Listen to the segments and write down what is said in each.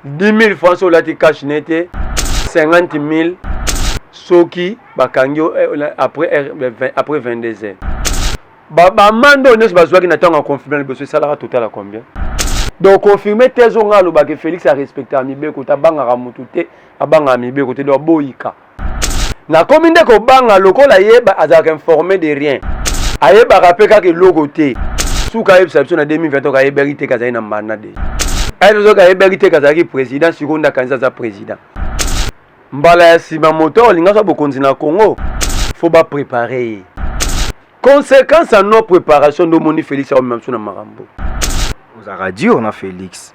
10000 francs soki olati cash ne te 50000 soki bakangi yo eh, après 22 eh, heures bamande oyo nyonso bazwaki na ntango ya confirme liboso esalaka total ya combien donc confirme te ezonga alobaka felix arespectaka mibeko te abangaka motu te abangaka mibeko te donc boyika nakomi nde kobanga lokola ye azalaka informe de rien ayebaka mpe kaka eloko te suka ayebisa biso na 2020 ayebaki te kazali na mbanda de ayebaki ayebaki te kazalaki président sikoyo nde akanisa aza président mbala ya nsima moto oyo alingaka bokonzi na congo fo baprépare ye conséquence ya non préparation nde omoni félix aomema biso na makambo ozalaka dur na félix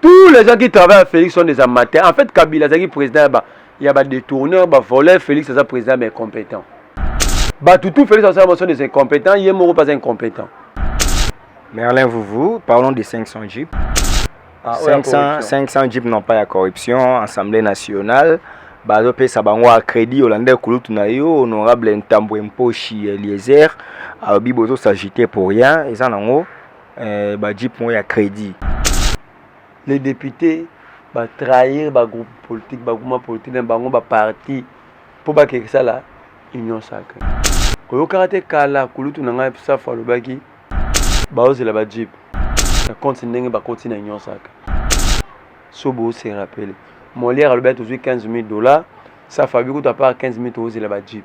Tous les gens qui travaillent à Félix sont des amateurs. En fait, Kabila azaki président ya ba ya ba détourneurs, ba voleurs, Félix aza président ya ba incompétents. Bato tout Félix asala bango sont des incompétents, ye moko pas incompétent. Merlin Vuvu, parlons des 500 jeeps. Ah, oyo ya 500, corruption. 500 jeeps non pas ya corruption, Assemblée nationale. bazopesa bango a crédit olanda kulutu na yo honorable ntambwe mposhi eliezer alobi bozosagite pour rien eza nango eh, ba jeep moko ya crédit les députés ba trahir ba groupe politique ba groupement politique na bango ba parti mpo bakeke sala union sacrée oyokaka te kala kulutu na ngai safu alobaki baozela ba jeep na compte ndenge bakoti na union sacrée so bose rappele molière alobaki tozwi 15 000 dollars safu abi kutu apart 15 000 tokozela ba jeep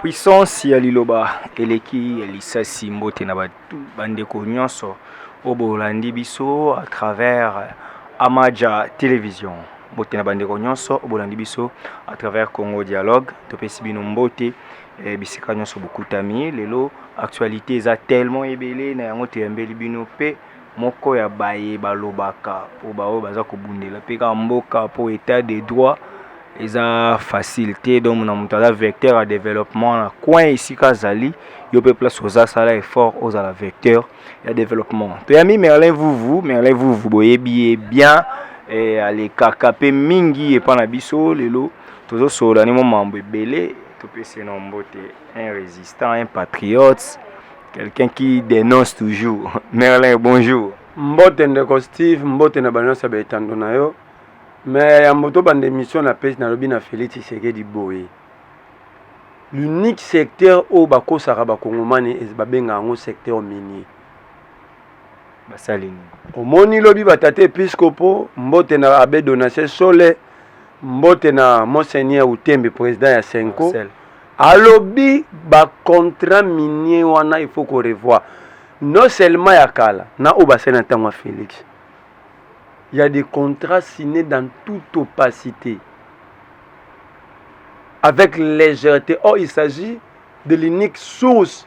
Puissance ya liloba eleki ya lisasi mbote na bandeko nyonso oyo bolandi biso à travers Amaja Television. Mbote na bandeko nyonso oyo bolandi biso à travers Congo Dialogue. Topesi bino mbote eh, bisika nyonso bokutami lelo. Actualité eza tellement ebele na yango toyambeli bino pe moko ya baye balobaka po baoyo baza kobundela pe kaka mboka po etat de droit eza facile te donc na moto aza vecteur ya developpement na coin esika azali yo pe place oza sala effort ozala vecteur ya developpement toyami merlin vuvu merlin vuvu boyebi ye bien eh, alekaka pe mingi epa na biso lelo tozosolola nimo mambo ebele topesi nombo te un résistant un patriote Quelqu'un qui dénonce toujours. Merlin, bonjour. Mbote ndeko Steve, mbote na bana sa betando na yo. Mais ya moto bande émission na page na lobi na Félix Tshisekedi boye. L'unique secteur oyo bakosaka bakongomani babenga yango secteur minier. basali nini omoni lobi batata episkopo mbote na abe donatien sole mbote na monseigneur utembe président ya senko Marcel. alobi bacontrat minier wana il faut korevoir non seulement ya kala na oyo basali na ntango ya félix ya des contrats signés dans toute opacité avec légèreté or il s'agit de l'unique source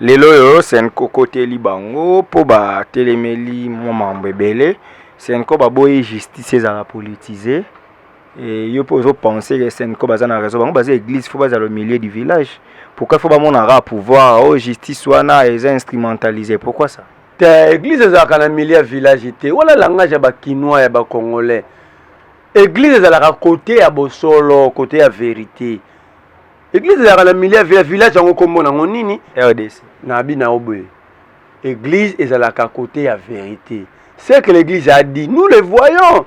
Lelo oyo Cenco koteli bango mpo batelemeli mwa mambo ebele. Cenco baboyi justice ezala politise. Et yo mpe ozo penser que Cenco baza na raison. Bango baza église faut bazala au milieu du village. Pourquoi faut bamonaka pouvoir oyo oh, justice wana eza instrumentalisé. Pourquoi ça? Te église ezalaka na milieu ya village te. Wala langage ya ba kinois ya ba congolais. Église ezalaka kote ya bosolo, kote ya verite. Eglise ezalaka na milieu ya village yango kombo nango nini? RDC. Na bi na oboye. Eglise ezalaka kote ya verite. Ce que l'église a dit, nous le voyons.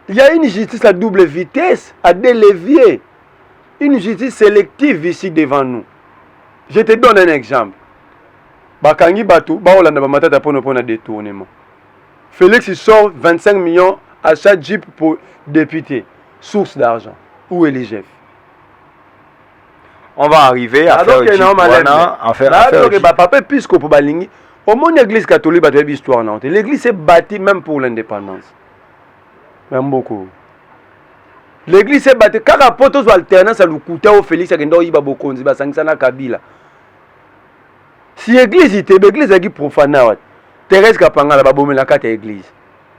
Il y a une justice à double vitesse, à deux leviers. Une justice sélective ici devant nous. Je te donne un exemple. Bakangi Batou, Baolanda Bamatata Pono Pona détournement. Félix sort 25 millions à chaque jeep pour député. Source d'argent. Où est l'IGF on va arriver à faire équipe wana en faire à faire ba papa episcopo balingi au monde église catholique bato yebi histoire na te l'église s'est bâtie même pour l'indépendance na mboko l'église s'est bâtie kaka po tozwa alternance ya lokuta oyo félix akenda oyiba bokonzi basangisa na kabila si église itebe église ezalaki profana wate thérèse kapangala babomelaka te église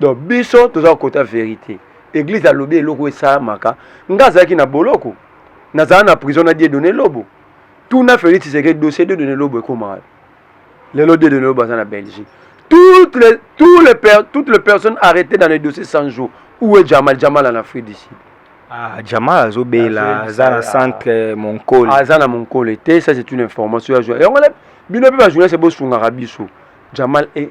donc biso toza kokota verite eglise alobi eloko esalamaka nga azalaki na boloko nazala na prison na die donne lobo tuna félix tshisekedi dossier die donne lobo ekomaka lelo die donne lobo aza na belgique toutes les, tous les per, toutes les personnes arrêtées dans les dossiers 100 jours où est jamal jamal en afrique du sud Ah, Jamal azobela aza na centre monkole aza na monkole te ça c'est une information ya journal yango bino mpe bajournaliste bosungaka biso jamal e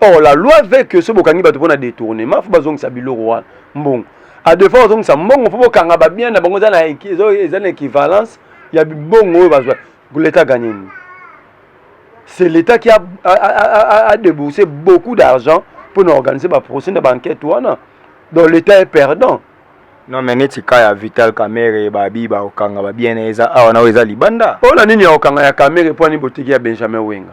or la loi veut que soki bokangi bato mpo na détournement fo bazongisa biloko wana mbongo a deux fois bazongisa mbongo fo bokanga babien na bango eza na équivalence ya bibongo oyo bazwa leta gagne nini c'est l'état qui a, a, a, a déboursé beaucoup d'argent mpo na organiser baprocès na baenquête wana donc l'état est perdant non mais neti ka ya vital kamere babi bakokanga babiene eza awa na oyo eza libanda mpo na nini ya kokanga ya kamere mpo ani boteki ya benjamin wenga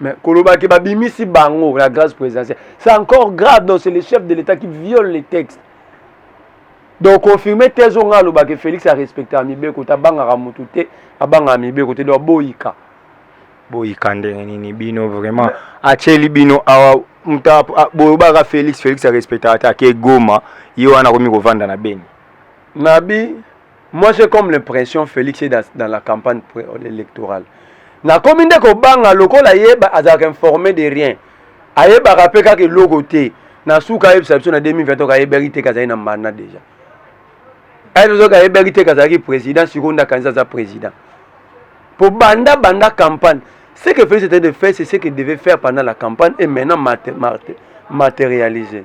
Mais Kolobaki Babimisi Bango, la grâce présidentielle. C'est encore grave, donc c'est le chef de l'État qui viole les textes. Donc confirmer thèse on a que Félix a respecté Amibeko, Tabanga Ramutute, Abanga Amibeko, te doit boyika. Boyika ndenge nini bino vraiment. Acheli bino awa muta boyobaka Félix, Félix a respecté ata ke Goma, yo wana komi kovanda na Beni. Nabi Moi j'ai comme l'impression Felix est dans, dans la campagne électorale. Nakomi nde kobanga lokola ye azalaka informé de rien. Ayebaka mpe kaka eloko te. Na suka ayebisa biso na 2020 ayebaki te kazali na mbanda déjà. Ayebaki ayebaki te kazalaki président sikoyo nda kanisa aza président. Pour banda banda campagne, ce que Felix était de faire, c'est ce qu'il devait faire pendant la campagne et maintenant matérialiser.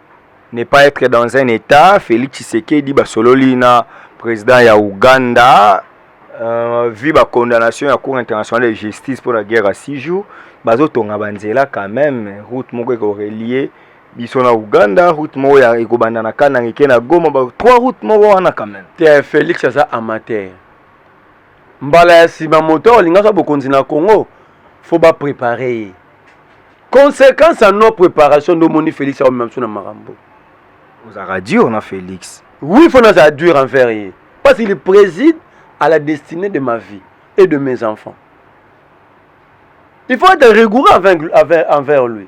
ne pas être dans un état Félix Tshisekedi basololi na président ya Ouganda euh, vu ba condamnation ya cour internationale de justice pour la guerre à 6 jours bazotonga banzela quand même route moko eko relier biso na Ouganda route moko ya ekobanda na Kananga eke na Goma ba trois routes moko wana quand même te Félix aza amateur mbala ya sima moto olinga sa bokonzi na Congo faut ba préparer ye Consequence ya non preparation nde omoni Felix akomema biso na makambo. Ozalaka dur na Felix. Oui, il faut nazala dur envers ye parce qu'il préside à la destinée de ma vie et de mes enfants. Il faut être rigoureux envers, envers, envers lui.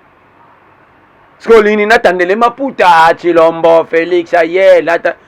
Parce que olingi natandele maputa, Chilombo, Felix, aye, lata.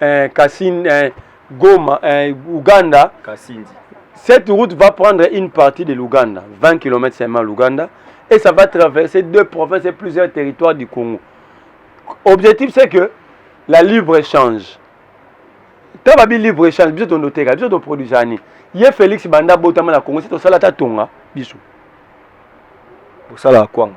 eh, Kassin, eh, Goma, eh, Ouganda. Kassindi. Cette route va prendre une partie de l'Ouganda, 20 km seulement l'Ouganda, et ça va traverser deux provinces et plusieurs territoires du Congo. Objectif, c'est que la libre-échange. Tant que libre-échange, biso tondo teka, biso to produit ani. Ye Félix Banda botama na Congo, c'est au salata tonga, biso. Au salata kwanga.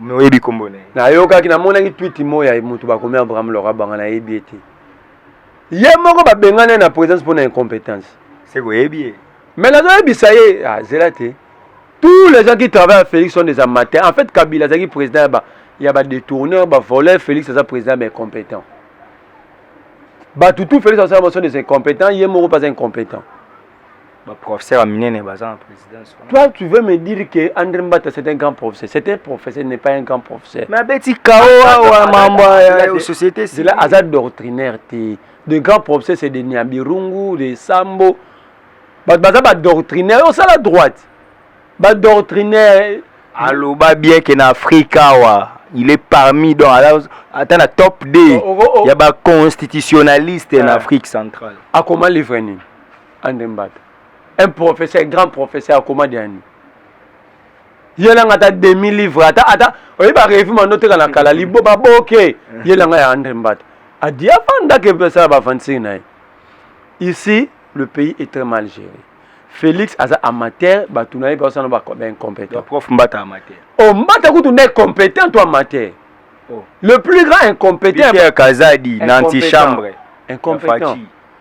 Mais oyebi kombo na ye? Nayokaki, namonaki tweet moko ya moto bakomi Abraham Laura Banga, nayebi ye te. Ye moko babengani ye na presence mpo na incompétence. Seke oyebi ye? Mais nazoyebisa ye, ah, zela te. Tous les gens qui travaillent à Félix sont des amateurs. En fait, Kabila azalaki président ya ba ya ba détourneurs, ba voleurs, Félix aza président ya ba incompétents. Bato tout Félix asala bango sont des incompétents, ye moko mpe aza incompétent. ba professeur ya minene baza na présidence toi tu veux me dire que André Mbata c'est un grand professeur c'est un professeur n'est pas un grand professeur mais abeti kao awa mambo ya société c'est là aza doctrinaire te de grand professeur c'est de Niabirungu de Sambo bato baza ba doctrinaire osala droite ba doctrinaire aloba bien que na Afrique awa il est parmi donc ata na top 2 ya ba constitutionnaliste na Afrique centrale akoma livre nini ande mbata un professeur grand professeur akoma diani yelanga ata demi livre ata ata oyebi barevue mando teka na kala libo baboke yelanga ya andre mbata adi afandaka epe asala bavansiri na ye ici le pays est très mal géré félix aza amateur bato na ye mpe basana baincompétent prof mbata amateur o oh, mbata kutu nde compétent to amateur oh. le plus grand incompétent kazadi na antichambre incompétent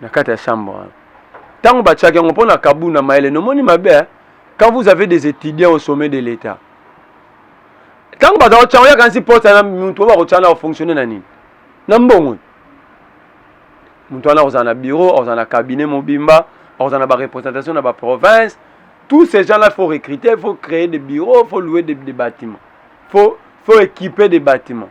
na kati ya chambre wana ntango batiaki yango mpo na kabu na mayele nomoni mabe eh? quand vous avez des étudiants au sommet de l'état ntango baza kotya yango yakanisi pota na moto oyo bakotya na kofonctionne na nini na mbongo moto wana akozala na bureau akozala na cabinet mobimba akozala na barepresentation na baprovince tous ces gens là faut recruter faut créer des bureaux faut louer des, des bâtiments faut, faut équiper des bâtiments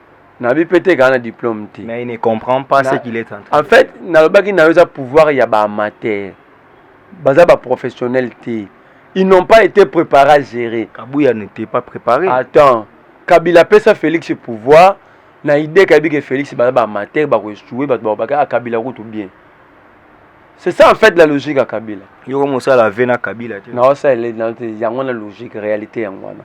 na bi pete kana diplôme te mais il ne comprend pas ce qu'il est en train en fait na lobaki na yoza pouvoir ya ba amateur baza ba professionnel te ils n'ont pas été préparés à gérer kabuya n'était pas préparé attends kabila pesa félix pouvoir na idée kayebi ke félix baza ba amateur bakoechoue bato bakobaka ah, kabila kutu bien c'est ça en fait la logique ya kabila yoko mosala ve na kabila te naosalela yango na logique réalité yango wana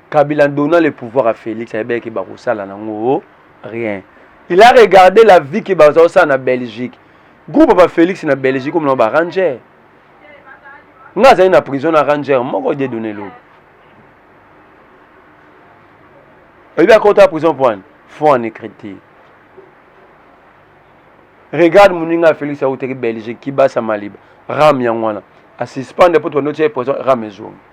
Kabila donna le pouvoir à Felix ayebaki ke bakosala nango rien. Il a regardé la vie que bazosala na Belgique. Groupe ba Felix na Belgique comme ba Ranger. Nga azali na prison na Ranger moko de donner l'eau. Oyebi akota prison point fond en écriture. Regarde moninga Felix autaki Belgique kibasa maliba ram yango wana a suspendre mpo tondo tie prison ram ezongi.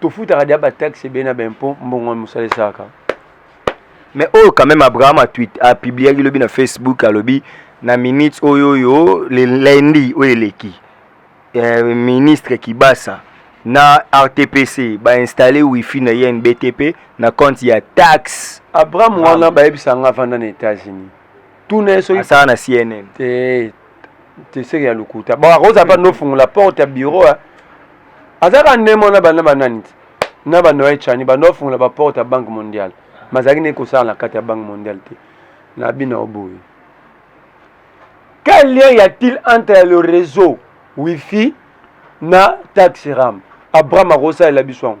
tofutaka dia ba taxe ebele na ba impôt mbongo ya mosala esalaka mais oyo quand même abraham apubliaki lobi na facebook alobi na minute oyo oyo le lundi oyo eleki eh, ministre kibasa na rtpc bainstalle wifi na ye nbtp na compte ya taxe abraham wana bayebisa nga avanda na états-unis tuna ye soki asala na cnn te te seke ya lokuta bon akozala mpa nofungola porte ya bureau azalaka nemo na bana banani ti na banoye chani bando bafungola baporte ya banque mondiale mazalaki nde kosala na kati ya banque mondiale te na bino oboye quel lien y a-t-il entre le réseau wifi na taxe ram abraham akosalela biso yango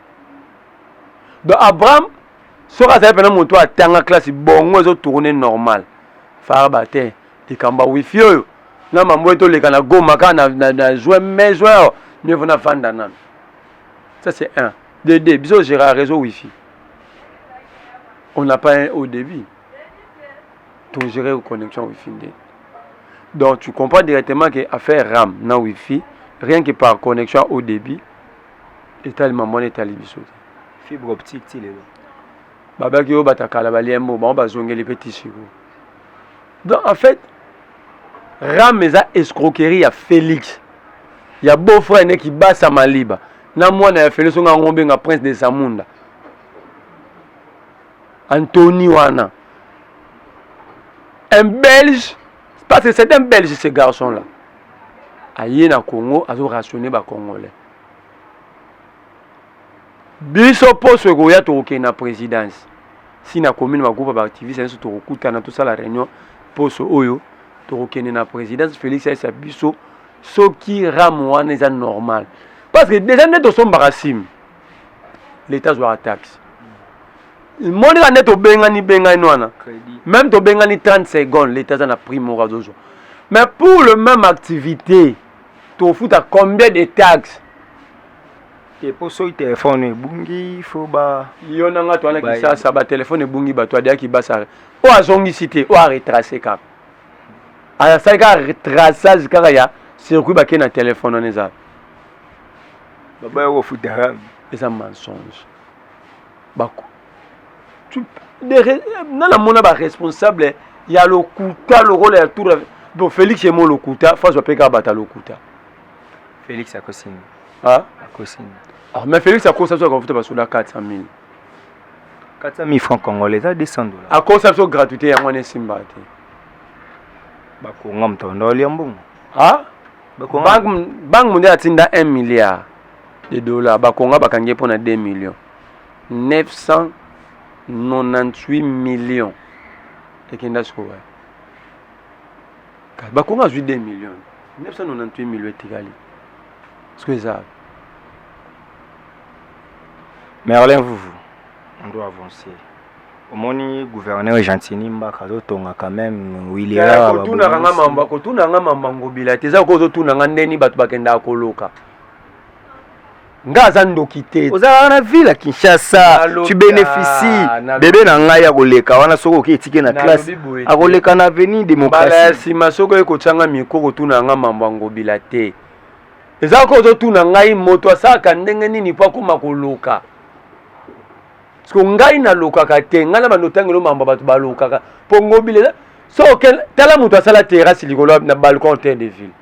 donc abraham soki azali mpena moto oyo atanga classe bongo ezo tourne normal farba te likambo ya wifi oyo na mambo ete oleka na goma kaka na, na, na juin mai juin oyo mieux vaut nafanda nano ça c'est un de deux biso ogera réseau wifi on n'a pas un au début togere connexion wifi nde donc tu comprends directement que affaire ram na wifi rien que par connexion au début etali mama wana etali biso te fibre optique ti lelo babaki oyo batakala baliembo bango bazongeli mpe tisiko donc en fait rame eza escroquerie ya félix ya beau frère ne kibasa maliba na mwana ya félix onga yango obenga prince de samunda antony wana un belge parce que c'est un belge ce garçon là aye na congo azo rationne bacongolais biso poso ekoya tokokende na présidence si na commune bagroupe baactiviste nyonso tokokutana tosala réunion poso oyo tokokende na présidence félix ayesa biso soki rame wana eza normal parce que déjà nde tosombaka sime leta azwaka taxe monika nde tobengani bengani wana meme tobengani 30 seconde leta aza na prix moko azozwa mais pour le même activité tofuta combien de taxes te mpo soki telefone ebungi fo ba yo na ngai towana kisasa batelefone ebungi bato adeyaki basare oyo azongisi te oyo aretrace kaka asali kaka retraçage kaka ya circuit bakei na telefone wana ezala baba yoko futaka eza mensonge bako na namona baresponsable ya lokuta lokola ya tour bon félix emo lokuta faso ape kaka bata lokuta félix akosini akosini ah, mais félix akosa biso akafuta basoda 400 000 400 000 francs congolais eza 200 dollars akosa biso gratuité yango wana esimba te bakonga moto anda olia mbongo banque mondiale atinda 1 milliard de dollars bakonga bakangi ye mpo na 2 millions 998 millions ekenda sikoyo wapi bakonga azwi 2 millions 998 millions etikali siko eza wapi merlin vuvu on doit avancer omoni gouverneur gentini mbaka azotonga quand même wilikotunaka nga mamba kotuna nga mamba ngobila te eza ko ozotuna nga ndeni bato bakendaka koloka nga aza ndoki te ozalaka na ville ya kinshasa tu bénéficie bebe na ngai akoleka wana soki oke etike na classe akoleka na avenue démocratie ya nsima soki oye kotyanga mikro kotuna yanga mambo ya ngobila te eza ko ozotuna ngai moto asalaka ndenge nini mpo akoma koloka siko ngai nalokaka te ngai na bandotangelo mambo bato balokaka mpo ngobilela so okende tala moto asala terrasse likolo na balcon terre de ville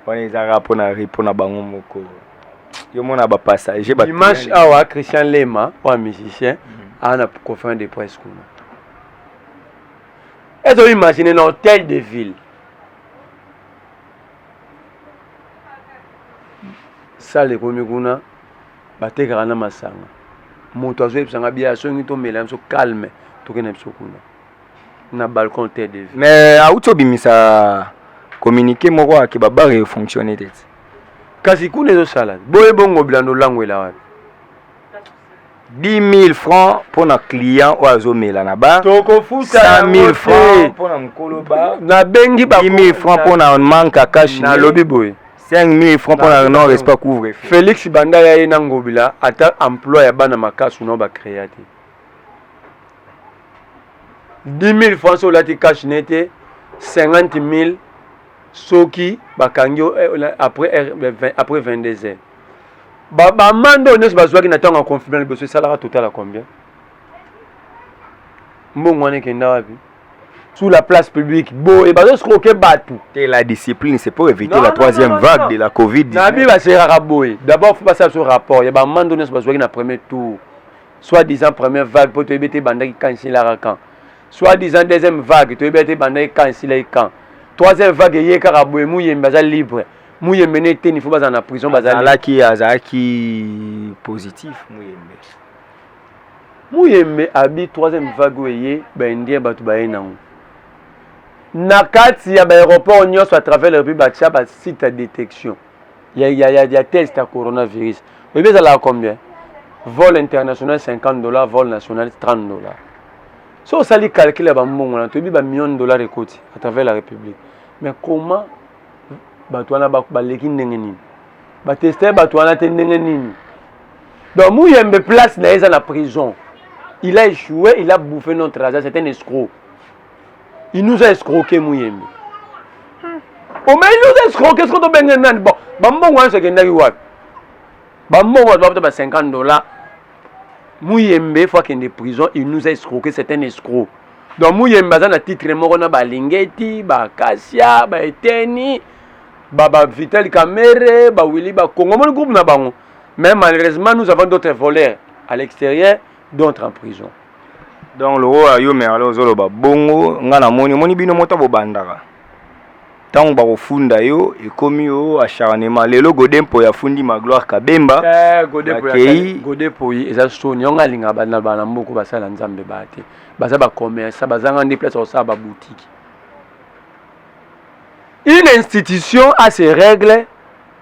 wana ezalaka mpo na ri mpo na bango moko yo mona bapassager dimanche awa christian lema oya musicien mhm. awa na conférence de presse kuna ezo imagine na hôtel de ville sale ekomi kuna batekaka na masanga moto azoyebisa nga bia songi tomela biso calme tokende biso kuna na balcon te de vie mais auti obimisa communiqué moko ake babare efonctionne te kasi kuna ezosala boye bongo bilando olangwela wapi 10 000 francs mpo na client oyo azomela na bar tokofuta 100 000 francs mpo na mokolo bar nabengi 10 000 francs mpo na manque akashi nalobi boye 5000 francs mpo na non respect couvre felix banda ya ye na ngobila ata emploi ya bana makasu nao bacrea te 10000 francs so olati cash ne te 50000 soki bakangi yo eh, après, eh, après 22 heures bamande oyo nyonso bazwaki na ntango ya confinement liboso esalaka total ya combien mbongo wana ekenda wapi sous la place publique boye bazoscroke bato te la discipline c'est pour éviter non, la troisième non, non, vague non. de la covid nabi baseraka boye d'abord fo basala biso rapport ya bamando nyonso bazwaki na premier tour soit disant première vague mpo toyebi ete ebandaki kan esilaka kan soit disant deuxième vague toyebi ete ebandaki kan esilaki kan troisième vague eye kaka boye muyembe aza libre muyembe ne eteni fo bazala na prison bazalaki azalaki positif muyembe Muyembe abi troisième vague oyo eye ba indien batu baye nango na kati ya ba aeroport nyonso à travers la République batia ba site ya detection ya, ya, ya, ya test ya coronavirus oyebi ezalaka combien vol international 50 dollars vol national 30 dollars so osali calcul ya bambongo wana toyebi ba million dollars ekoti à travers la République mais comment bato wana baleki ndenge nini bateste bato wana te ndenge nini Donc Muyembe place na eza na prison. Il a échoué, il a bouffé notre argent, c'est un escroc. Il nous a escroqué Muyembe. Oh mais il nous a escroqué, est-ce qu'on doit bien nani bon. Ba mbongo wana sekendaki wapi? Ba mbongo wana ba 50 dollars. Muyembe faut qu'il prison, il nous a escroqué, c'est un escroc. Donc Muyembe aza na titre moko na ba Lingeti, ba Kasia, ba Eteni, ba ba Vital Kamere, ba Willy ba Kongo, mon groupe na bango. Mais malheureusement, nous avons d'autres voleurs à l'extérieur, d'autres en prison. Donc lokola yo merle ozoloba bongo ngai namoni omoni bino moto bobandaka ntango bakofunda yo ekomi yo acharnement lelo gode mpoyi afundi magloire kabemba eh, bakei gode mpoyi eza soni yango alingaka bana bana mboko basala nzambe baa te baza bacommerça bazanga nde place ya kosala babutiki une institution a ses règles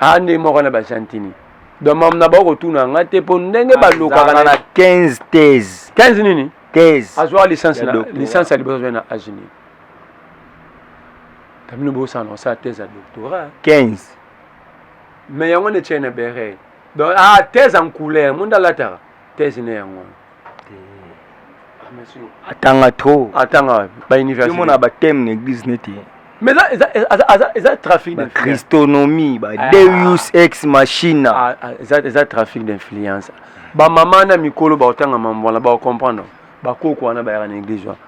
aa ndenge moko na basantini domam na bakotuna nga te mpo ndenge balukaka na 15 thèse 15 nini thèse azwaka licence na licence ya liboso azwai na age nini kamino bosana osala thèse ya doctorat 15 mais yango nde tiai na bere donc ah thèse en couleur monde alataka thèse ne yango atanga trop atanga ba université mona ba thème na église neti mais eza eza eza eza eza trafic de christonomie ba ah. deus ex machina ah, ah, eza eza trafic d'influence ba mama na mikolo ba otanga mambo wana ba comprendre ba koko wana ba yaka na église wana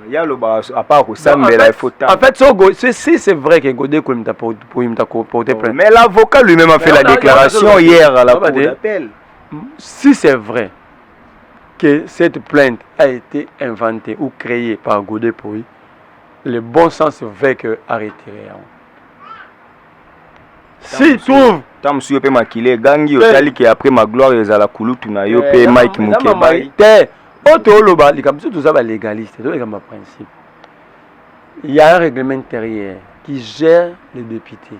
ye aloba apa akosambela efota en fait sogo si c'est vrai que gode koyimta porte plainte mais l'avocat lui-même a fait la déclaration hier à la cour d'appel Si c'est vrai que cette plainte a été inventée ou créée par Godé Poi, le bon sens veut que a retirer yango. Si trouve ntango mosusu yo mpe makila egangi otali ke après ma gloire ezala kulutu na yo mpe mike mokebai te oyo tooloba likambo biso toza balegaliste toza likambo ya principe il y a un règlement intérieur qui gère les députés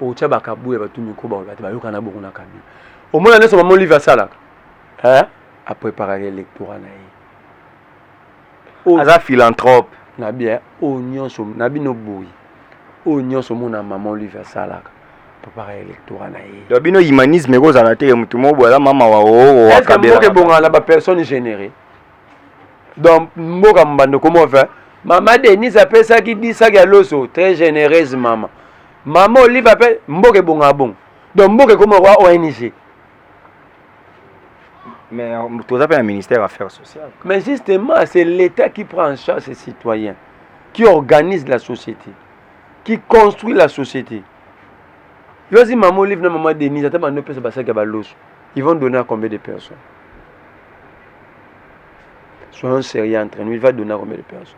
otya bakabu ya batu miko baoyo bate bayokana bongo na kabila omona nyonso mama olive asalaka eh? apreparaka electorat na ye oh. aza philanthrope na bien oyo nyonso na bino boyi oyo nyonso omona mama olive asalaka preparaka electorat na ye donc bino humanisme ekozala te motu moko boye aza mama waoowakabelaka ebongana na bapersonne généré donc mboka mbando komova mama denise apesaki disaki ya loso très généreuse mama mama olive ape mboka ebongaka bongo donc mboka ekoma kwa ong mais euh, toza mpe na ministère affaires sociales mais justement c'est l'état qui prend en charge ses citoyens qui organise la société qui construit la société yozi mama olive na mama denise ata bando opesa basaki ya baloso ils vont donner à combien de personnes Soyons sérieux entre nous. Il va donner à combien de personnes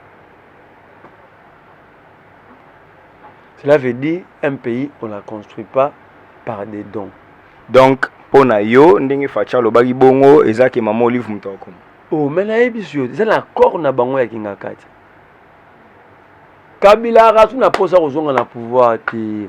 Cela veut dire un pays, on ne la construit pas par des dons. Donc, pour na yo, ndenge facha lobaki bongo, eza ke maman olive moto akoma. Oh, mais na yebi sur, eza na accord na bango ya kingakati. Kabila rasu na posa kozonga na pouvoir te.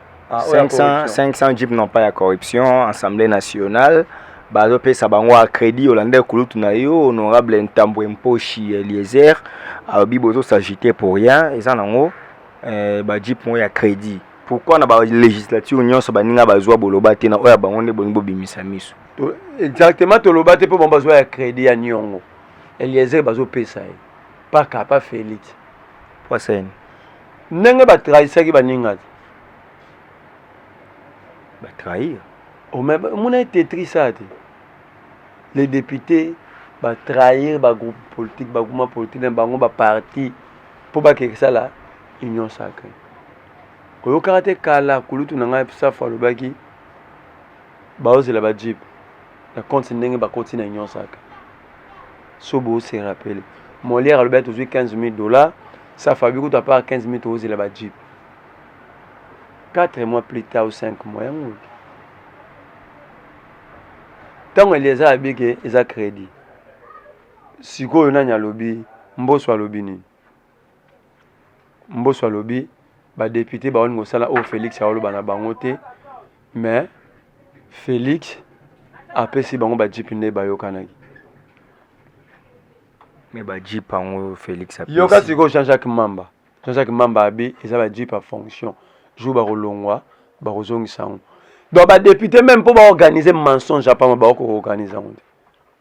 500, 500 jeep non pas ya corruption assemblée nationale bazopesa bango acrédit olanda kulutu na yo honorable ntambwe mposhi eliezer alobi bozosagite pour rien eza nango eh, bajeep moko ya crédit pourquoi na balégislature nyonso baninga bazwa boloba te na oyo ya bango nde bolingi bobimisa miso exactement toloba te mpo bango bazwa ya crédit ya niongo eliezer bazopesa ye paka pa felix poisene ndenge ba trahisaki ba ninga te ba trahir oh, mais muna tetris ça te les députés ba trahir ba groupe politique ba groupe politique na bango ba parti mpo bakeke sala union sacrée oyokaka te kala kulutu na ngai safu alobaki baozela ba jeep na compte ndenge bakoti na union saka so bo se rappele molière alobi ati ozwi 15 000 dollars sa fabi kutu apart 15 000 tokozela ba jeep 4 mois plus tard ou 5 mois yango oyo ntango elieza abike eza crédit sikoyo nani alobi mboso alobi nini Mboso alobi ba depute baoni kosala oyo Felix aoloba na bango te mais Felix apesi bango ba jeep nde bayokanaki. Mais ba jeep yango Felix apesi. Yoka sikoyo Jean-Jacques Mamba. Jean-Jacques Mamba abi eza ba jeep ya fonction. Jour bakolongwa bakozongisa yango. Donc ba depute meme mpo baorganize mensonge apama baokoorganize yango te.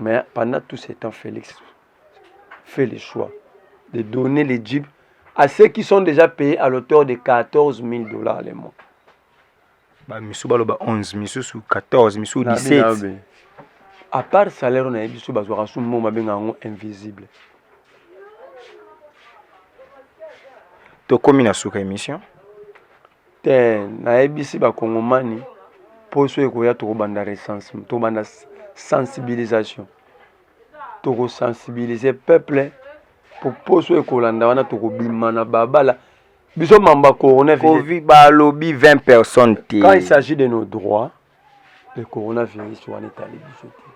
Mais pendant tout ce temps, Félix fait le choix de donner les jeeps à ceux qui sont déjà payés à l'auteur de 14 000 dollars le mois. Bah, misu baloba 11, misu sous 14, misu 17. À part salaire, on a eu biso bazwaka sous mot mabenga yango invisible. Tokomi na suka émission. Te nayebisi ba kongomani poso ekoya tokobanda recensement tokobanda sensibilisation tokosensibilize peuple po poso ekolanda wana tokobima na babala biso mamba coronavirus balobi 20 personnes te quand il s'agit de nos droits le coronavirus wana etali biso te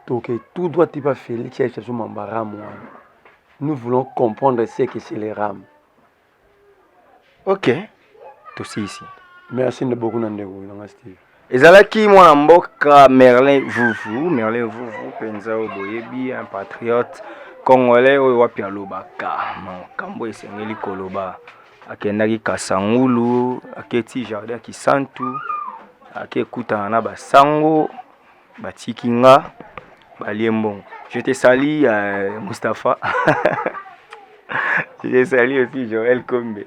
toke tout droit tipa félix ayebisabiso mamba ram wana nous voulons comprendre ce que c'est le ram ok tosisi merci nde beaucoup na ndeko nanga steve ezalaki mwana mboka merlin vuvu merlin vuvu mpenza oyo boyebi un patriote congolais oyo wapi alobaka makambo esengeli koloba akendaki kasangulu aketi jardin kisantu ake ekutana na basango batiki nga balie mbongo je te sali ya euh, mustapha je te sali aussi joel kombe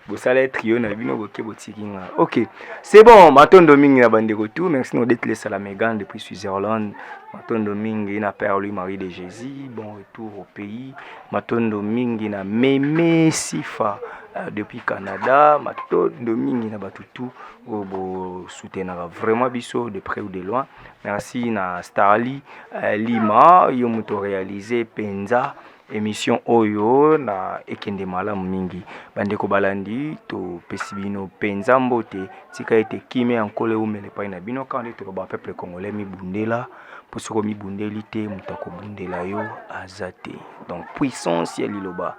bosala ye trio na bino boke botiki nga ok c'est bon matondo mingi na bandeko tout merci nodetlesa la megan depuis switzerland matondo mingi na père lui marie de jésus bon retour au pays matondo mingi na meme sifa euh, depuis canada matondo mingi na bato tout oyo bosoutenaka vraiment biso de près ou de loin merci na starly euh, lima yo moto réalise mpenza émission oyo na ekende malamu mingi bandeko balandi topesi bino mpenza mbote tika ete kimia ya nkolo eumela epai na bino kaka nde toloba peuple congolais mibundela mpo soki omibundeli te moto akobundela yo aza te donc puissance ya liloba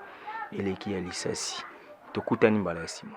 eleki ya lisasi tokutani mbala ya nsima